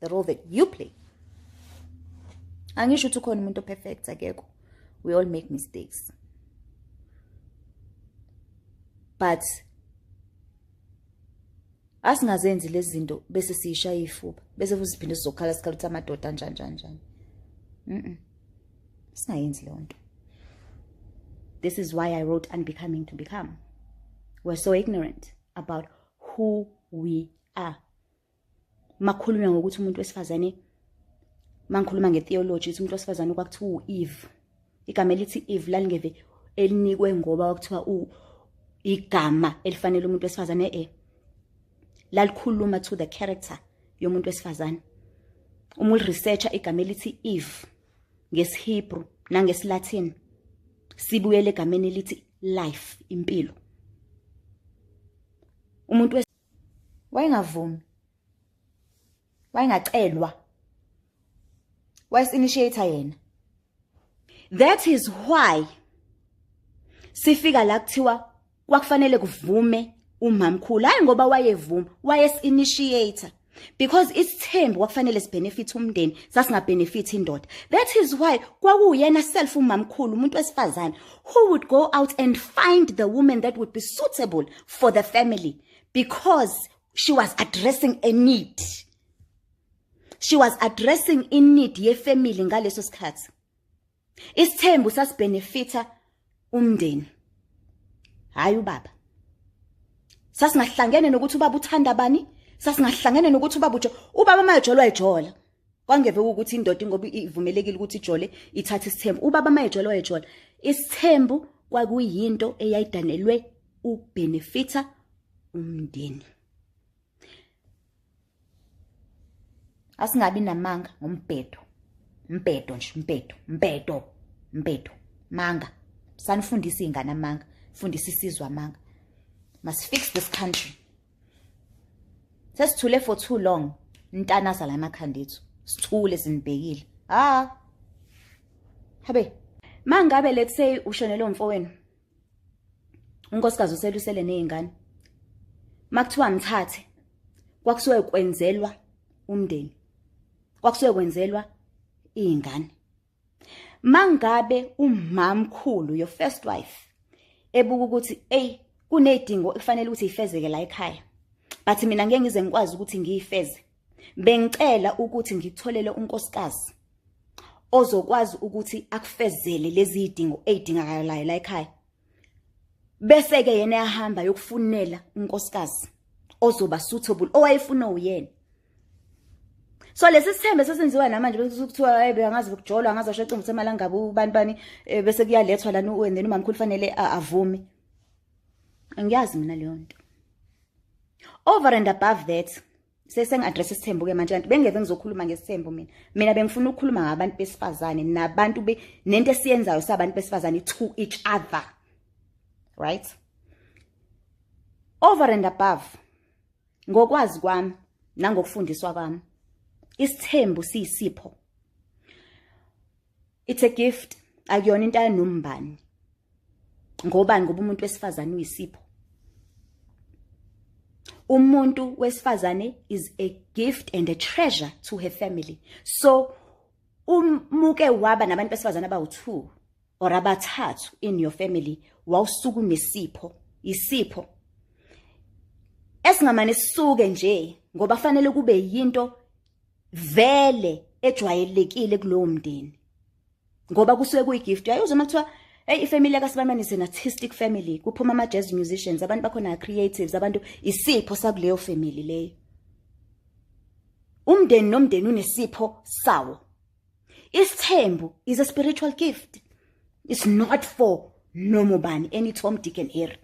the role that you play angisho ukuthi ukhona umuntu operfect akekho we all make mistakes but asingazenzi lezi zinto bese siyishaya ifuba bese futhi siphinde sizokhala sikhala ukuthi amadoda anjani njani njani mm singayenzi leyo nto this is why i wrote unbecoming to become we're so ignorant about who we are makhulunywa ngokuthi umuntu wesifazane mangikhuluma ngetheology ukuthi umuntu wesifazane kwakuthiwa u-eve igama elithi eve lalingeve elinikwe ngoba kwakuthiwa igama elifanele umuntu wesifazane e lalikhuluma to the character yomuntu wesifazane uma uliresearcha igama elithi eve ngesihebru nangesilatin sibuyele egameni elithi life impilo umuntu wayengavumi wayengacelwa wayesinitiator yena that is why sifika la kuthiwa kwakufanele kuvume umamkhulu hayi ngoba wayevuma wayesinitiator because isithembu kwakufanele sibenefit umndeni sasingabenefit indoda that is why kwakuyena self umamkhulu umuntu wesifazane who would go out and find the woman that would be suitable for the family because she was addressing a need she was addressing i need yefamily ngaleso sikhathi isithembu sasibenefita umndeni hayi ubaba sasingahlangene nokuthi ubaba uthanda bani sasingahlangene nokuthi ubaba ujo ubaba mayejolwa ejola kwangeve ukuthi indoda ingoba ivumelekile ukuthi ijole ithathe isithembu ubaba mayejola wayejola isithembu kwakuyinto eyayidanelwe ubenefita umndeni asingabi namanga ngombhedo mbhedo nje mbhedo mbhedo mbhedo manga sanifundisa iy'ngane amanga fundisa isizwe amanga must fix this country sesithule for too long ntanasa la emakhanda ethu sithule sinibhekile ha habe mangabe let's say ushonele umfowenu unkosikazi uselusele nezingane makuthiwa mthathe kwakusuke kwenzelwa umndeni kwakusuke kwenzelwa izingane mangabe umamkhulu your first wife ebuka ukuthi ey kunedingo ekufanele ukuthi ifezeke la ekhaya but mina ngeke ngize ngikwazi ukuthi ngiyifeze bengicela ukuthi ngitholele unkosikazi ozokwazi ukuthi akufezele lezi zidingo ezidingakalayo la ekhaya bese ke yena yahamba yokufunela unkosikazi ozoba suitable owayefuna uyena so lesi sithembe sesenziwa namanje bese kuthiwa hayi beyangazi ukujolwa ngazi washo iqembu semalangaba ubani bani eh, bese kuyalethwa lana and then umamkhulu fanele avume ngiyazi mina leyo nto over and above that sesengi-address isithembu ke manje kanti bengeve ngizokhuluma ngesithembu mina mina bengifuna ukukhuluma ngabantu besifazane nabantu nento esiyenzayo sabantu besifazane to each other right over and above ngokwazi kwami nangokufundiswa kwami isithembu siyisipho it's a gift akuyona into ayanombani ngobani ngoba umuntu wesifazane uyisipho umuntu wesifazane is a gift and a treasure to her family so umuke waba nabantu besifazane abawu-two or abathathu in your family wawusuku nesipho isipho esingamane sisuke nje ngoba fanele kube yinto vele ejwayelekile kulowo mndeni ngoba kusuke kuyigift uyayuzwa uma kuthiwa Hey ifamily ka Sibamani is an artistic family. Kuphuma ama jazz musicians, abantu bakhona creatives, abantu isipho sakuleyo family leyo. Umndeni nomndeni unesipho sawo. Isithembu is a spiritual gift. It's not for noma ubani any Tom Dick and Harry.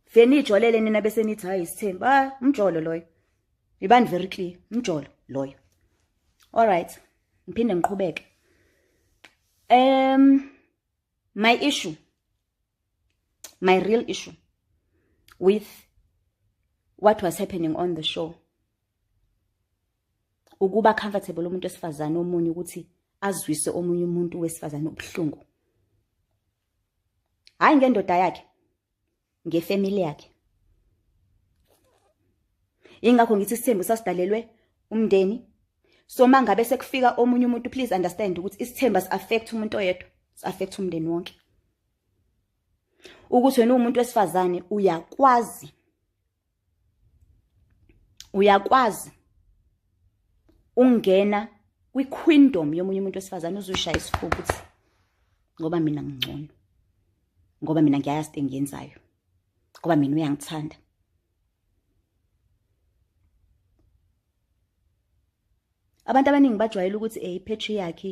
Fenijolele nina bese nithi hayi isithembu. Ah, umjolo loyo. ibani very clear mjolo loyo all right ngiphinde ngiqhubeke um my issue my real issue with what was happening on the show ukuba comfortable umuntu esifazane omunye ukuthi azwise omunye umuntu wesifazane ubuhlungu hayi ngendoda yakhe ngefamily yakhe ingakho ngithi isithembu sasidalelwe umndeni so mangabe sekufika omunye umuntu please understand ukuthi isithembu as affect umuntu oyedwa as affect umndeni wonke ukuthi wena umuntu wesifazane uyakwazi uyakwazi ungena kwiquindom yomunye umuntu wesifazane uzushaya isifuba ukuthi ngoba mina ngingcono ngoba mina ngiyayazi into engiyenzayo ngoba mina uyangithanda abantu abaningi bajwayele ukuthi eh patriarchy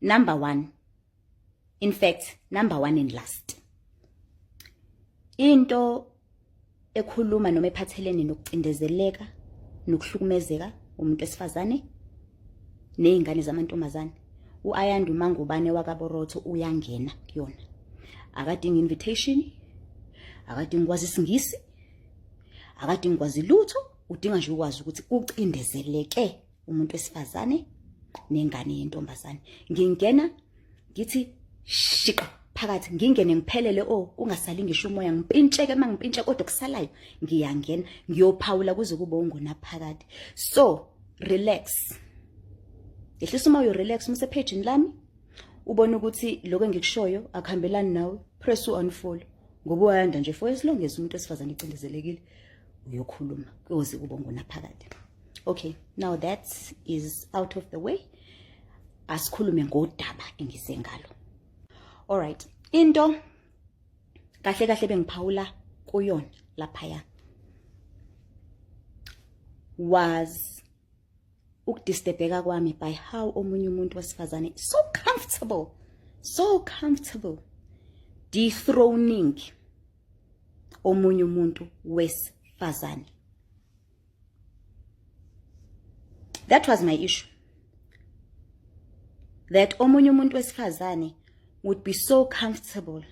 number one in fact number one and last into ekhuluma noma ephathelene nokucindezeleka nokuhlukumezeka umuntu esifazane nezingane zamantombazane uAyanda uMangubane wakaBorotho uyangena kuyona akadingi invitation akadingi kwazi isingisi akadingi kwazi lutho udinga nje ukwazi ukuthi ucindezeleke umuntu wesifazane nengane yentombazane ngingena ngithi shiqa phakathi ngingene ngiphelele o oh, kungasali ngisho umoya ngimpintsheke uma ngimpintshe kodwa kusalayo ngiyangena ngiyophawula kuze kube ungona phakathi so relax yehlisa uma uyorelax umsephejini lami ubone ukuthi lokho engikushoyo akuhambelani nawe press u-unfollow ngoba uyanda nje for as long as umuntu wesifazane ecindezelekile uyokhuluma kuyoze kube ngunaphakade okay now that is out of the way asikhulume ngodaba engize ngalo alright into kahle kahle bengiphawula kuyona laphaya was ukudistebheka kwami by how omunye umuntu wesifazane so comfortable so comfortable dethroning omunye umuntu wesifazane that was my issue that omunye umuntu wesifazane would be so comfortable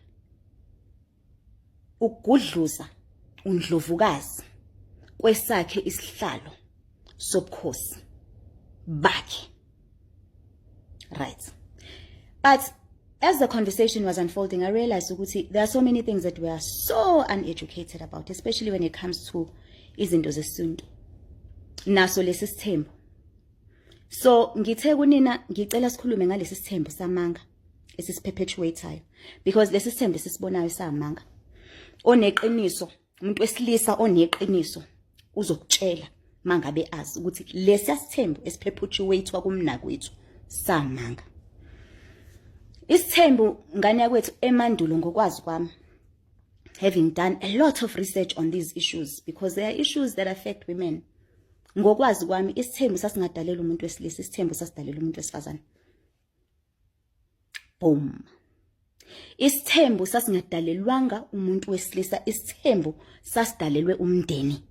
Ugudluza uNdlovukazi kwesakhe isihlalo sobukhosi bakhe. Right. But as the conversation was unfolding, I realized ukuthi there are so many things that we are so uneducated about, especially when it comes to izinto zesintu. Naso lesi sithembu. So ngithe kunina ngicela sikhulume ngalesi sithembu samanga. esisiphephethuwethayo because lesi sithembe sisibonayo samanga oneqiniso umuntu wesilisa oneqiniso uzokutshela mangabe azi ukuthi lesi asithembu esiphephethuwethwa kumnakwethu samanga isithembu ngane yakwethu emandulo ngokwazi kwami having done a lot of research on these issues because there are issues that affect women ngokwazi kwami isithembu sasingadalela umuntu wesilisa isithembu sasidalela umuntu wesifazane boom isithembu sasingadalelwanga umuntu wesilisa isithembu sasidalelwe umndeni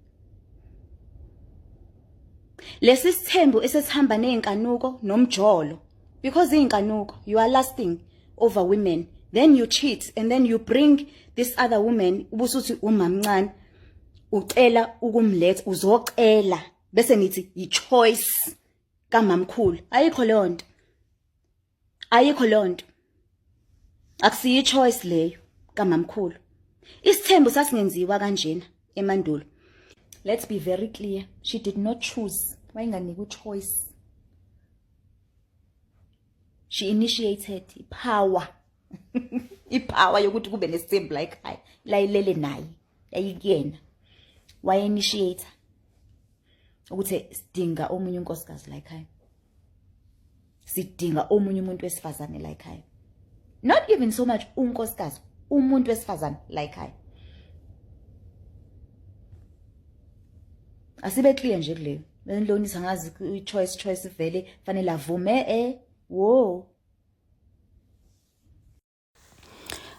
lesi sithembu esesihamba nezinkanuko nomjolo because izinkanuko you are lasting over women then you cheat and then you bring this other woman ubusuthi umamncane ucela ukumletha uzocela bese nithi yi choice kamamkhulu ayikho leyo nto ayikho leyo nto akusiyi choice leyo kamamkhulu isithembu sasingenziwa kanjena emandulo let's be very clear she did not choose wayinganika uchoice she initiated ipower ipower yokuthi kube nesithembu la ekhaya layilele naye yayikuyena waye-initiator ukuthi sidinga omunye unkosikazi la ekhaya sidinga omunye umuntu wesifazane la ekhaya not even so much unkosikazi umuntu wesifazane la ekhaya asibe clear nje kuleyo benilonisa ngazi i-choice choice vele fanele avume e eh, wo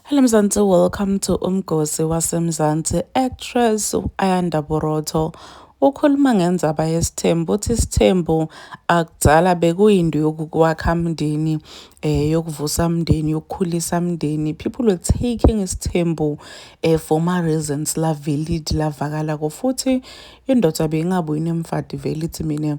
Hello Mzansi, welcome to Umgosi waseMzansi. Actress Ayanda Borotho ukhuluma ngenzaba yesithembu uthi isithembu akudala bekuyinto yokukwakha mndeni eh yokuvusa mndeni yokukhulisa mndeni people were taking isithembu eh for ma reasons la valid lavakala ko futhi indoda beyingabuyi nemfadi vele ithi mina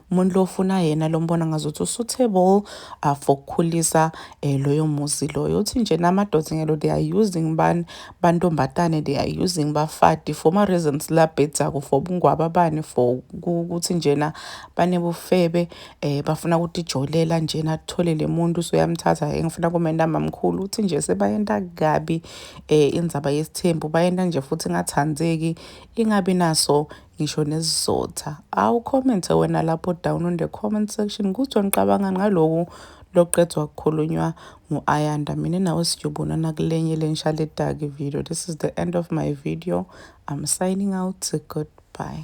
umuntu lo ufuna yena lo mbona ngazuthi usuitable uh, for ukukhulisa eh, loyo muzi loyo uthi nje namadoda ngelo they are using bani bantombazane they are using bafati for ma reasons la bhedzako for ubungwaba bani for ukuthi njena banebufebe eh bafuna ukuthi jolela njena athole lemuntu soyamthatha engifuna kumenda mamkhulu uthi nje sebayenta kabi eh indzaba yesithembu bayenta nje futhi ingathandzeki ingabi naso ngisho nesizotha awu comment wena lapho down on the comment section kuzwa ngiqabanga ngaloku loqedwa kukhulunywa ngu-ayanda mina nawe siyobonana kulenye lenshaledaki video this is the end of my video i'm signing out goodbye